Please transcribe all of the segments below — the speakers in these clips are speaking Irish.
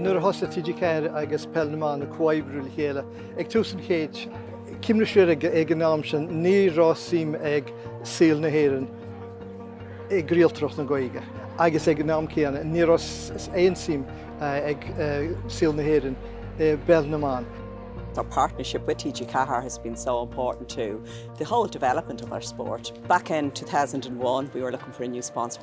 Nuair a thosaigh TG4 agus Peil na mBan ag comhoibriú le chéile ag tús an chéid cuimhnigí siar ag an am sin, ní raibh suim ag saol na hÉireann i gcraoltóireacht na Gaeilge agus ag an am céanna ní raibh aon suim ag saol na hÉireann i bPeil na mBan. Our partnership with TG4 has been so important to the whole development of our sport. Back in 2001 we were looking for a new sponsor.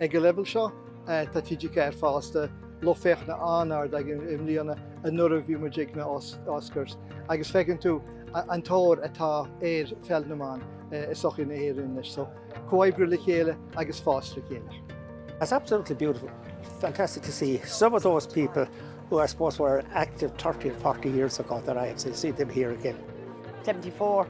Ag an leibhéal seo, tá TG4 fásta, lucht féachana an-ard againn i mbliana, anuraidh bhí muid ag na Oscars, agus feiceann tú an tóir atá ar Pheil na mBan i sochaí na hÉireann anois. So, comhoibriú le chéile agus fás le chéile. It's absolutely beautiful, fantastic to see some of those people who I suppose were active 30 or 40 years ago that I have seen them here again. 74.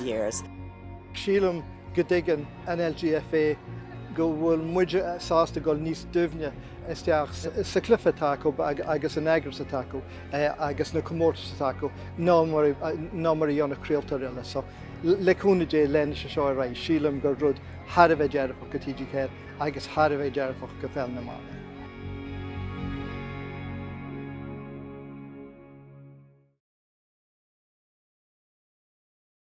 years. Sílim go dtuigeann an LGFA go bhfuil muide sásta dul níos doimhne isteach sa chluiche atá acu agus an eagras atá acu agus na comórtais atá acu ná mar a dhéanfadh craoltóir eile. So le cúnamh Dé leanfaidh sé seo ar aghaidh. Sílim gur rud thar a bheith dearfach do TG4 agus thar a bheith dearfach do Pheil na mBan.